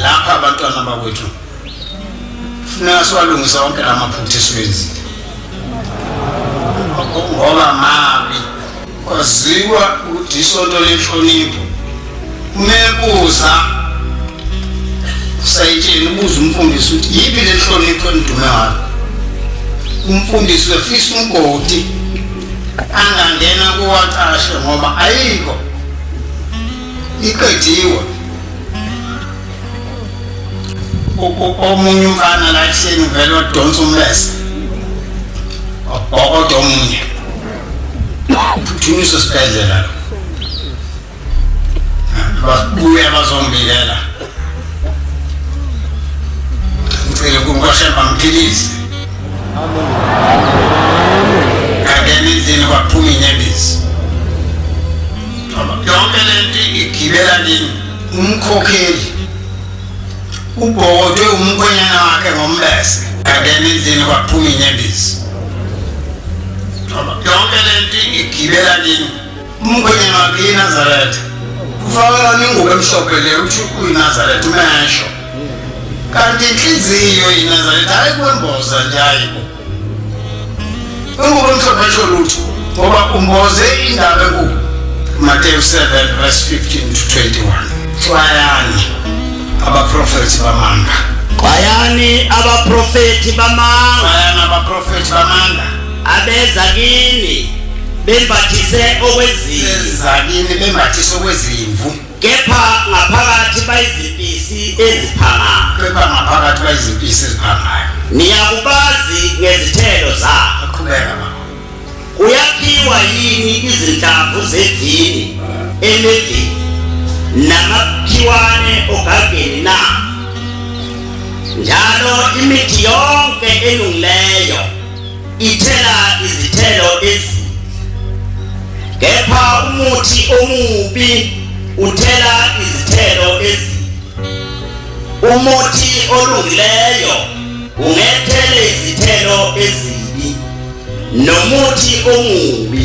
lapha abantwana bakwethu funeka siwalungisa wonke la maphutha esiwenzile ngoba mabi kwaziwa ukuthi isonto lenhlonipho mebuza usayitsheni ubuza umfundisi ukuthi yiphi le nhlonipho endume ngayo umfundisi wefisa umgodi angangena kuwacashe ngoba ayikho iqediwe omunye umfana la ehleni uvele odonsa umbese obhokoda omunye phuthunyiswa esibhedlela babuya bazombikela ngicele kunkoshemba mphilise ngangena endlini kwaphuma inyembezi yonke lento igibela nini umkhokheli ubhokotwe umkhwenyana wakhe ngombese angena endlini kwaphuma inyembezi yonke lento igibela nini umkhwenyana wakhe inazaretha ufakela ningubo emhlophe le uthi uyinazaretha umesho kanti inhliziyo yinazaretha hayi kwemboza nje hayibo Ungubona umhlaba esho lutho ngoba umboze indaba enkulu. Mateyu 7 verse 15 to 21. Xwayani abaprofethi bamanga. Xwayani abaprofethi bamanga. Xwayani abaprofethi bamanga. Abeza kini bembathise okwezimvu. Abeza kini bembathise okwezimvu. Kepha ngaphakathi bayizimpisi eziphangayo. Kepha ngaphakathi bayizimpisi eziphangayo. Niyakubazi ngezithelo zabo. Aqhubeka mama. Kuyakhiwa yini izinhlamvu zevini emevini namakhiwane ogageni na? Njalo imithi yonke elungileyo Ithela izithelo ezinhle. Kepha umuthi omubi uthela izithelo ezinhle. Umuthi olungileyo ungethele izithelo ezinhle. nomuthi omubi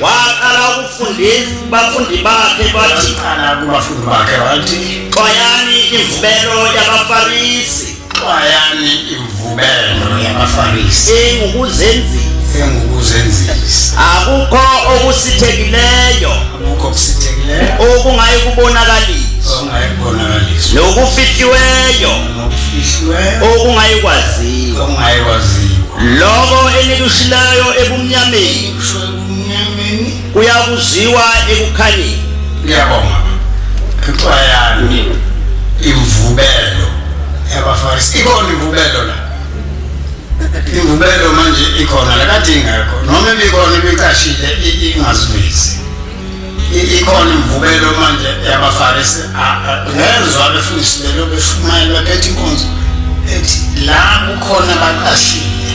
waqala ukufundisa bafundi bakhe bathi qala kubafundi bakhe wathi xwayani imvubelo yabafarisi xwayani imvubelo yabafarisi engukuzenzisa engukuzenzisa akukho okusithekileyo akukho okusithekileyo okungayi kubonakaliswa okungayi kubonakaliswa nokufihliweyo nokufihliweyo okungayi kwaziwa okungayi kwaziwa lokho enikushilayo ebumnyameni uyakuziwa ekukhanyeni ngiyabonga kuthiwa yani imvubelo yabafarisi ikhona imvubelo la imvubelo manje ikhona la kade ingekho noma ibikhona ibicashile ingazivezi ikhona imvubelo manje yabafarisi ngezwa befundisi belo beshumayela bephethe inkonzo ethi la kukhona abaqashile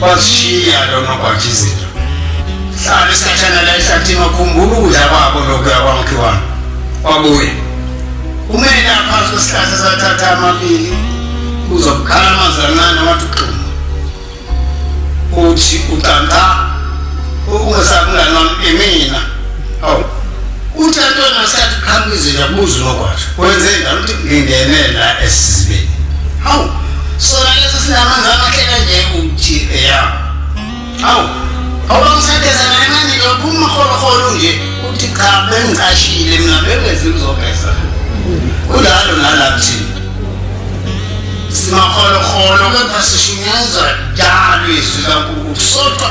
Wazishiya lo nogwaja izinto. Hlala isikhathana la ehlathini wakhumbula ukudla kwabo lokuya kwamkhiwana. Wabuye. Umele aphansi kwesihlahla sathatha amabili uzokukhala amazwi ancane wathi uxuma. Uthi ucanta ukungesakulana imina. Awu. Uthi antona sathi qhamuka izinja buza unokwasho. Kwenze njalo uthi ngingene la esizibeni. Hawu. Sona lesi sinamanzi amahle kanje uthi eya. Hawu. Awubangisadeza kancane nje uphuma ukholokholo nje uthi cha bengicashile mina bengezi ngizogeza. Kulalo nala kuthini. Simakholokholo kepha sishunyezwa njalo izwi kaNkulunkulu. Sodwa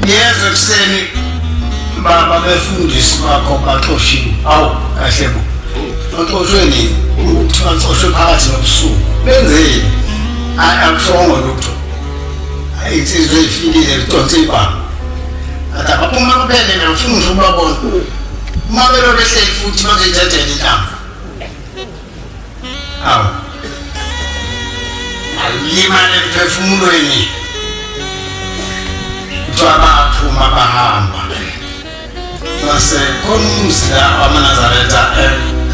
ngiyeza ekuseni baba befundisi bakho baxoshiwe awu kahle bo baxoshwe nini ukuthi baxoshwe phakathi nobusuku benzeni akushongo lutho insizwa eyifikile lidonsa ibanga athi abaphuma kuphele nangifuna nje ukubabona uma belobe ehleli futhi bazoyithathela intamba aw alimane emphefumulweni kuthiwa baphuma bahamba base khona umuzi la wamanazaretha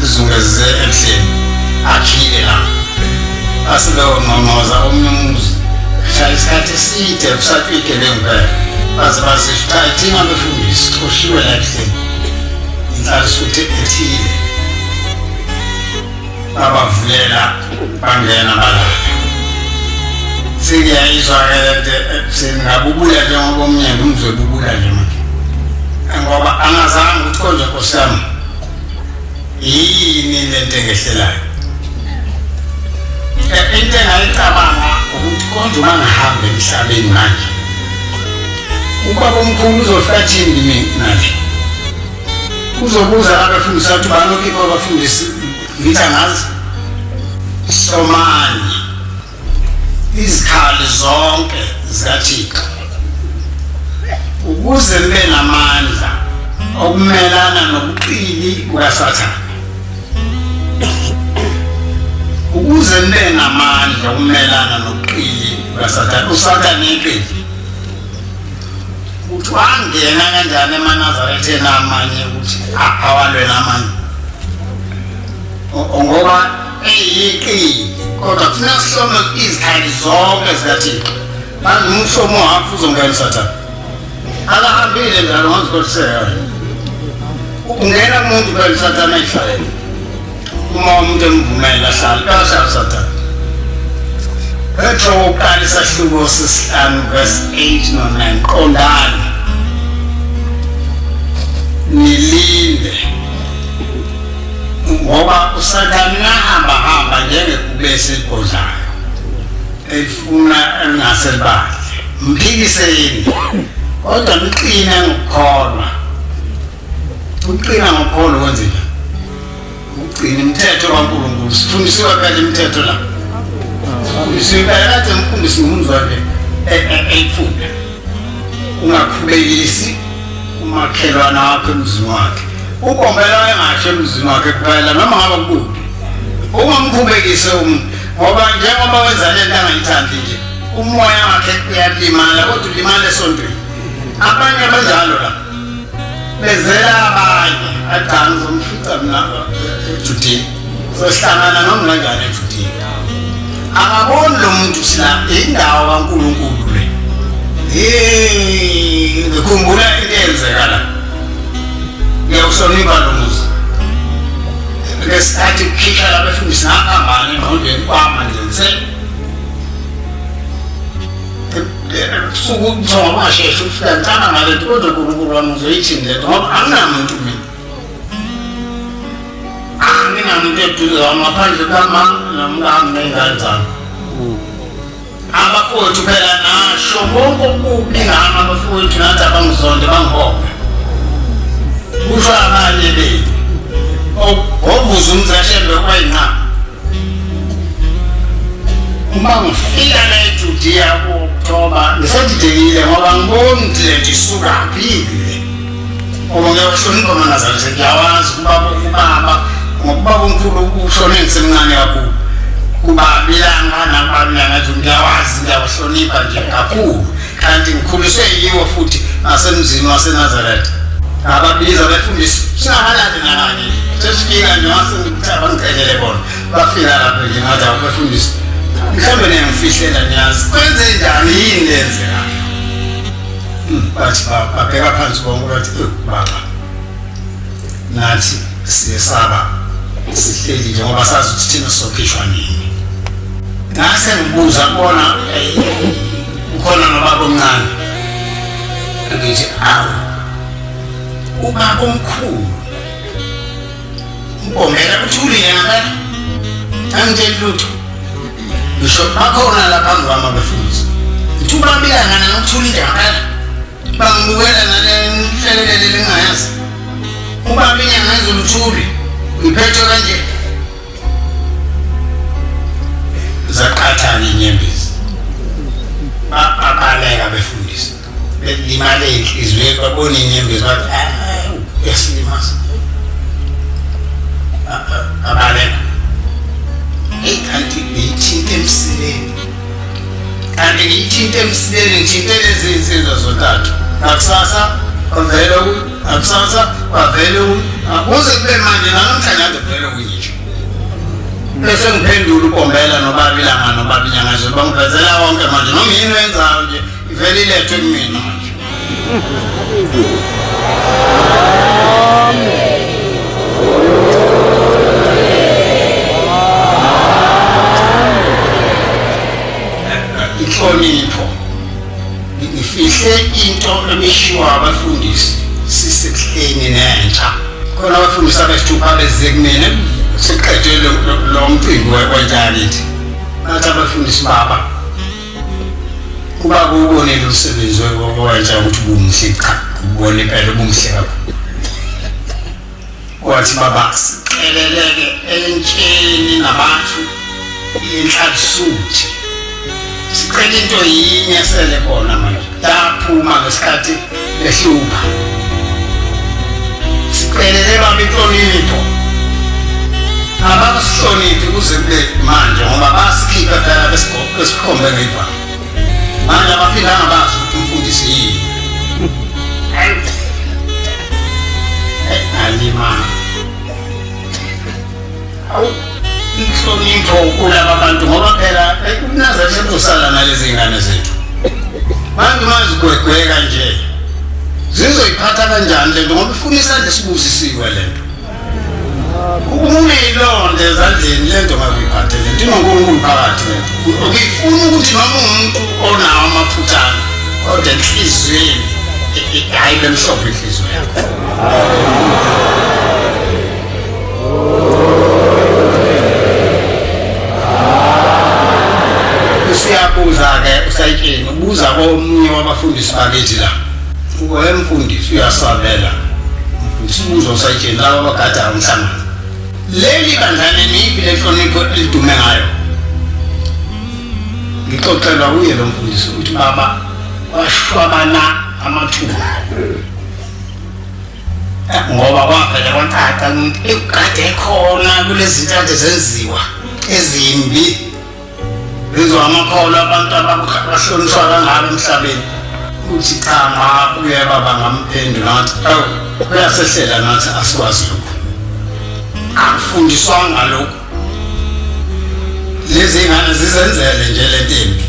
ezungeze ebuhleni akhile la asebewonqonqoza omunye umuzi hlala isikhathi eside kusatwike lengibhela baze bazifika ithina befundisi xoshiwe la ebuhleni inhlalisuthe ethile babavulela bangena balala sengiyayizwa ke lento ekuseni ngabubuya njengoba umnyeni umzobubula nje manje ngoba angazange ukuthi konje nkosi yami yini lento engehlelayo eh, into engayicabanga ukuthi konje uma ngihambe emhlabeni manje ubaba omkhulu uzofika thini mina nje kuzobuza abafundisi bathi banokhipha abafundisi ngithi angazi somani izikhali zonke zikathixo ukuze libe namandla okumelana nobuqili bukasathane ukuze libe namandla okumelana nobuqili bukasathane usathane iqili ukuthi wangena kanjani emanazaretheni amanye ukuthi awalwela amanye ngoba eyiqili kodwa thina sihlome izikhali zonke zikathixo manje umhlomo wakho uzongena usathane akahambile njalo ngazikothiseka ungena kumuntu phela usathane ehlale uma umuntu emvumela ahlale ahlale sathane Petro uqala isahluko sesihlanu verse 8 no 9 qondani nilinde ngoba usathane nahamba hamba njengekubesi eligodlayo elifuna elingase libadle mphikiseni kodwa niqine ngokukholwa Uqina ngokholo kwenzeka. Uqina imithetho kaNkulunkulu. Sifundisiwe phela imithetho la. Sifundisiwe phela kade umfundisi ngumzwakhe eyifunda. Ungakhubekisi umakhelwana wakho emzini wakhe. Ukombela engasho emzini wakhe kuphela noma ngaba kubi. Ungamkhubekise umuntu ngoba njengoba wenza lento angayithandi nje umoya wakhe uyalimala kodwa ulimala esontweni. Abanye abanjalo la. bezela abanye adala uzomfica mina ejudini sohlangana nomngangane ejudini akaboni lo muntu sila indawo kankulunkulu le ngikhumbula into eyenzeka la ngiyawuhlonipha lo muzi ngesikhathi kukhishwa labefundisi ngahambane engqondweni kwama nje nse kusuke ukuthiwa washesha ufika ngicaba ngale nto kodwa unkulunkulu wami uzoyithini le nto ngoba anginamuntu mina anginamuntu eduze wami ngaphandle kukamama nomkami ney'ngane zami abafowethu phela nasho konke okubi ngami abafowethu nathi abangizonde bangibophe kusho abanye benu ovuza umzashembe kwayinqaba uma ngifika nejudiya kuoktoba ngisadidekile ngoba ngiboni ukuthi le nto isukaphile ngoba ngiyakuhlonipha manazali sengiyawazi kubaba ubaba ngokuba kumkhulu ushone ngisemncane kakhulu kuba bilanga nakubalulanga nje ngiyawazi ngiyakuhlonipha nje kakhulu Kanti ngikhuliswe yiwo futhi nasemzini waseNazaretha. Ababiza befundisi singabalandi nabanye. Sesifika nje wase ngithaba ngicelele bona. Bafika lapho nje ngathi abafundisi. Mhlawumbe niyangifihlela niyazi. Kwenze njani yini lenzeka? Hmm, bathi babheka phansi bonke bathi baba. Nathi siyesaba sihleli nje ngoba sazi ukuthi thina sokhishwa nini. Ngase ngibuza kubona Ukhona nobaba omncane. Ngithi awu. Ubaba omkhulu. Ubomela ukuthi uliyena ngani? Angitsheli lutho. Ngisho bakhona lapha ngwami abefundisi. Ngithuba bika ngana ngithulile ngempela. bangibukela nalenhlelelele lingayazi ubaba inyanga ezuluthuli ngiphethe kanje zaqathana inyembezi babaleka befundisa belimale inhliziyo babona inyembezi bathi yasilimasa abaleka eyi kanti beyithinte emsileni kanti ngithinte emsileni ngithinte lezi nsizwa zontathu nakusasa kwavele nakusasa kwavele akuze kube manje nanamhlanje ade kuvele kuyisho bese ngiphendula ukombela nobaba ilanga nobaba inyanga zelo bangivezela wonke manje noma yini wenzayo nje Vele ilethwe kumina nje. Inhlonipho. Ngifihle into emishiwa abafundisi sisekuhleni nentsha. Khona abafundisi abesithupha beze kumina siqedwe lo- lo lo mcimbi we- wentsha yakithi. Bathi abafundisi baba Uba kuwubonile umsebenzi watsha ukuthi ubumuhle cha ubone impela ubumuhle kakhulu wathi baba siqheleleke entsheni nabantu inhlalisuthi sicela into yinye sele kona manje Yaphuma ngesikhathi behlupha. Siqelele baba inhlonipho. Abasihloniphi kuze kube manje ngoba basikhipha phela besikhombe ngedwa. Manje abaphilanga bazi ukuthi umfundisi yini. Alima. inhlonipho kulaba bantu ngoba phela umnazana sekuzohlala nalezi ngane zethu manje mazigwegweka nje zizoyiphatha kanjani lento ngoba ifuna isandla esibusisiwe lento ukuyilonda ezandleni lento ngakuyiphathe lento inonkulunkulu phakathi lento ukuyifuna ukuthi noma umuntu onawo amaphuthana kodwa enhliziyweni hayi bemhlophe inhliziyo yakho usiyabuza-ke usayitsheni ubuza komunye wabafundisi bakithi la we mfundisi uyasabela mfundisi ubuza usayitsheni laba abagadayo umhlangano leli bandla leniphi lenhlonipho elidume ngayo ngixoxelwa kuye lo mfundisi ukuthi baba washwabana amathuba ngoba kwavele kwacaca kade khona kulezintathu zenziwa ezimbi zizo amakholo abantu abahlonishwa kangaka emhlabeni uthi cha ma uyababa ngamphendula ngathi awu uyasehlela nathi asikwazi lokhu akufundiswanga lokhu lezi ngane zizenzele nje le ntimbi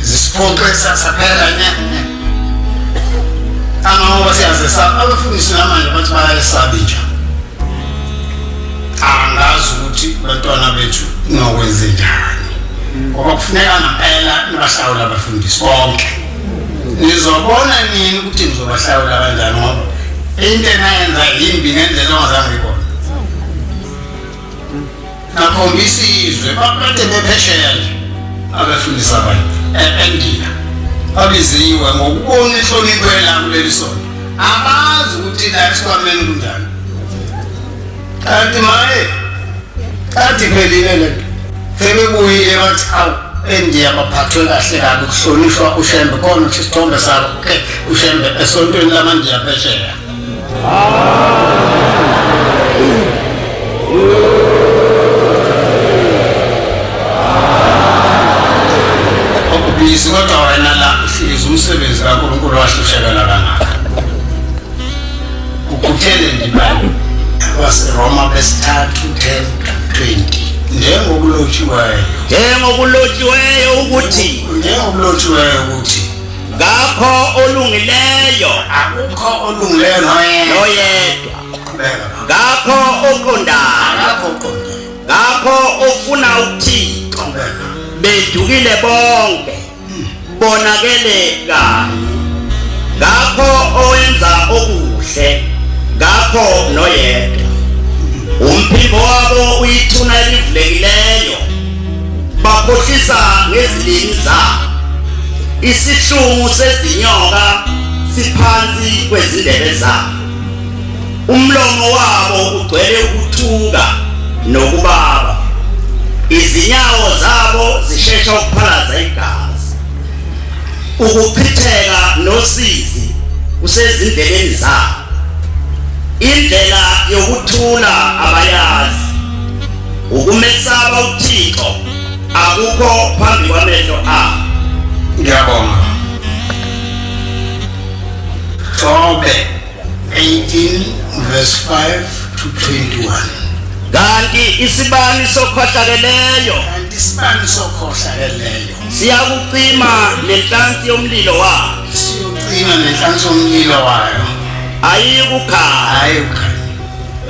zisiphoxe kusasa phela nya angoba siyazesaba abafundisi namanje bathi bayayesabi nje angazi ukuthi bantwana bethu nokwenze njani ngoba kufuneka ngempela nibahlawula abafundisi bonke nizobona nini ukuthi nizobahlawula kanjani ngoba into enayenza yimbi ngendlela ongazange ikona nakhombisa izwe bakade bephesheya nje abefundisa abantu e-endiya babiziwe ngokubona inhlonipho yelanga kuleli sonto abazi ukuthi la esikwameni kunjani kanti maye kanti phelile le nto sebebuyile bathi awu endiya baphathwe kahle kabi kuhlonishwa ushembe khona ukuthi isithombe sabo ke ushembe esontweni lamandiya phesheya Okubhizi kodwa wena la uhlezi umsebenzi kaNkulunkulu wahlushekela kangaka. Ukhuthele ndibani waseRoma besithathu 10 20 njengokulotshiweyo njengokulotshiweyo ukuthi njengokulotshiweyo ukuthi ngakho olungileyo akukho olungileyo noyedwa noyedwa qhubeka ngakho oqondayo ngakho uqonde ngakho ofuna ukuthini qhubeka bedukile bonke bonakele kanye ngakho owenza okuhle ngakho noyedwa umphimbo wabo uyithuna elivulekileyo bakhohlisa ngezilimi zabo isihlungu sezinyoka siphansi kwezindebe zabo umlomo wabo ugcwele ukuthuka nokubaba izinyawo zabo zishesha ukuphalaza igazi ukuchitheka nosizi kusezindleleni zabo indlela yokuthula abayazi Ukumesaba uThixo akukho phambi kwamehlo akho. Ngiyabonga. Jobe 18 verse 5 to 21. Kanti isibani sokhohlakeleyo. Kanti isibani sokhohlakeleyo. Siyakucima nenhlansi yomlilo wayo. Siyokucima nenhlansi yomlilo wayo. Ayikukhala. Ayikukhala.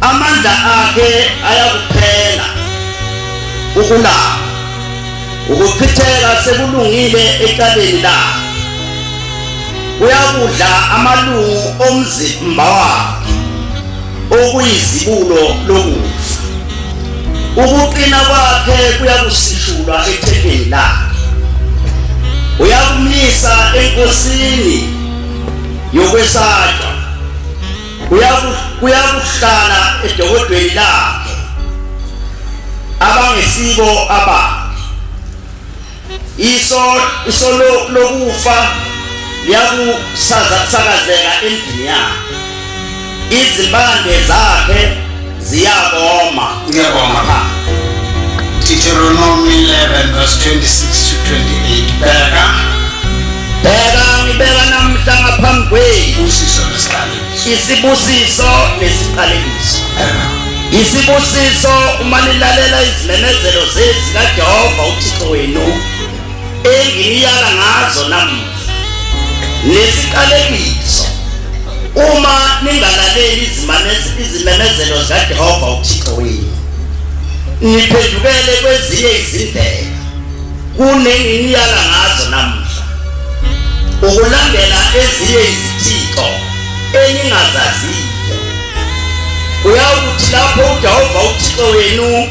Amandla akhe ayakuphela ukulapha ukuchitheka sekulungile ekaleni lakhe uyakudla amalungu omzimba wakhe okuyizibulo lokufa ukuqina kwakhe kuyakusishulwa ethempeni lakhe uyakumisa enkosini yokwesatshwa kuyakuhlala edokodweni lakhe abangesibo aba iso iso lokufa liyakusazakazeka endini yakhe izimpande zakhe ziyakoma ngiyabonga pha Deuteronomy 11 verse 26 to 28 bheka bheka ngibeka namhla ngaphambi kwenu usiso nesiqalekiso isibusiso nesiqalekiso isibusiso uma nilalela izimemezelo zezikajehova uthixo wenu enginiyala ngazo namuhla nesiqalekiso uma ningalaleli izimemezelo zikaJehova uThixo wenu niphendukele kwezinye izindlela kunenginiyala ngazo namuhla ukulandela ezinye izithixo eningazaziyo uyawuthi lapho uJehova uThixo wenu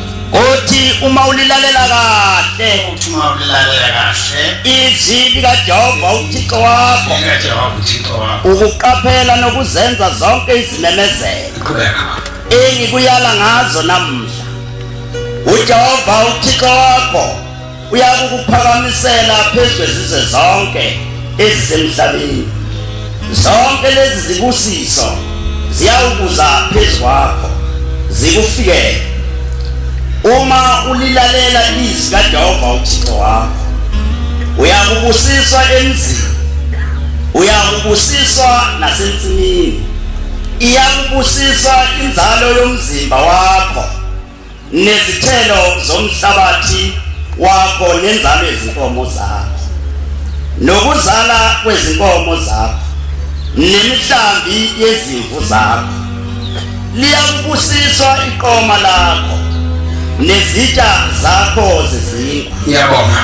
Uthi uma ulilalela kahle. Uthi uma ulilalela kahle. Izwi likaJehova uThixo wakho. LikaJehova uThixo wakho. Ukuqaphela nokuzenza zonke izimemezelo. Qhubeka. Engikuyala ngazo namuhla. UJehova uThixo wakho. uyakukuphakamisela phezu kwezizwe zonke ezisemhlabeni zonke lezi zibusiso ziyawukuza phezu kwakho zikufikele uma ulilalela izwi kaJehova uThixo wakho uyakubusiswa emzini uyakubusiswa nasensimini iyakubusiswa inzalo yomzimba wakho nezithelo zomhlabathi wakho nenzalo yezinkomo zakho nokuzala kwezinkomo zakho nemihlambi yezimvu zakho liyakubusiswa iqoma lakho nezitsha zakho zezinkwa ngiyabonga